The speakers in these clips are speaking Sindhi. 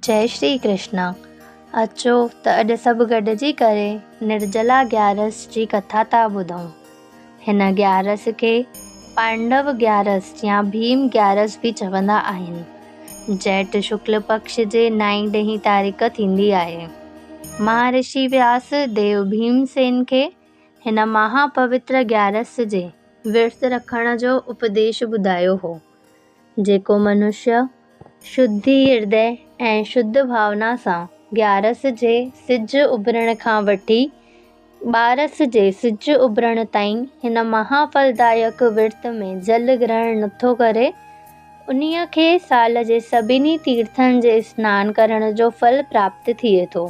جئي شري ڪرشنا اچو ته اڄ سڀ گڏجي ڪري نرجلا گيارس جي ڪٿا ٿا ٻڌون هن گيارس کي پانڊو گيارس يا ڀيم گيارس به چوندا آهن جيٺ شڪل پڪش جي نائين ڏهين تاريخ ٿيندي آهي مهارشي وياس ديو ڀيم سين کي هن مها پوتر گيارس جي ورت رکڻ جو اپديش ٻڌايو هو جيڪو منشيٰ شڌي هردئ ۽ شڌ ڀاونا سان گيارس جي سج اڀرڻ کان وٺي ٻارس جي سج اڀرڻ تائين هن مها ڦلدائڪ ورت ۾ جل گرهڻ نٿو ڪري، انهيء کي سال جي سڀني تيرٿن جي سنان ڪرڻ جو ڦل پراپت ٿئي ٿو.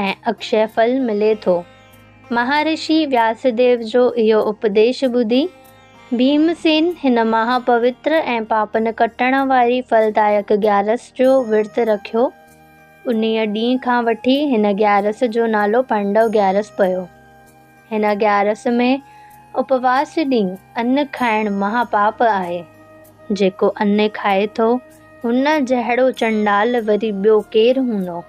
۽ اڪشي ڦل ملي ٿو. مهارشي وياسديو جو اهو اپديش ٻڌي، ڀيمسين هن مها پوتر ۽ پاپن ڪٽڻ واري ڦلدائڪ گيارس جو ورت رکيو. انهيء ڏينهن کان وٺي هن گيارس جو نالو پانڊو گيارس پيو. هن گيارس ۾ اپواس ڏينهن ان کائڻ مها پاپ آهي. جيڪو ان کائي ٿو، هن جهڙو چنڊال وري ٻيو ڪير هوندو؟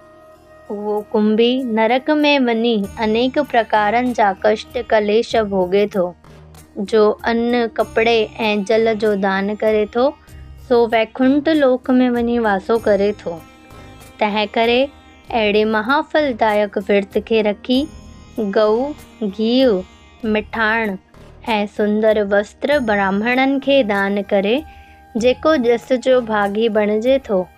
اهو ڪنڀي نرڪ ۾ وڃي انيڪ پرڪارن جا ڪشٽ ڪليش ڀوڳي ٿو. جو ان، ڪپڙي ۽ جل جو دان ڪري ٿو، سو ويڪنٺ لوڪ ۾ وڃي واسو ڪري ٿو. تنهن ڪري اهڙي مها ڦل دائڪ ورت کي رکي، ڳئو، گيهه، مٺاڻ ۽ سندر وستر براهمڻن کي دان ڪري، جيڪو ڄس جو ڀاڳي بڻجي ٿو،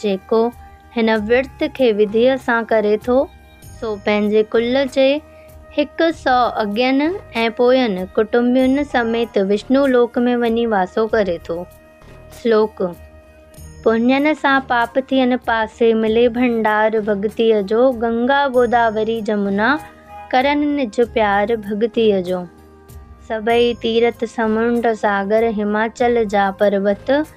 جيڪو هن ورت کي وڌيء سان ڪري ٿو، سو پنهنجي ڪل جي هڪ سؤ اڳين ۽ پوين ڪٽنبين سميت وشنو لوڪ ۾ وڃي واسو ڪري ٿو. سلوڪ، پڃن سان پاپ ٿين پاسي، ملي ڀنڊار ڀڳتيء جو، گنگا گوداوري جمنا، ڪرن نج پيار ڀڳتيء جو. سڀئي تيرٿ سمنڊ ساگر، هماچل جا پروت،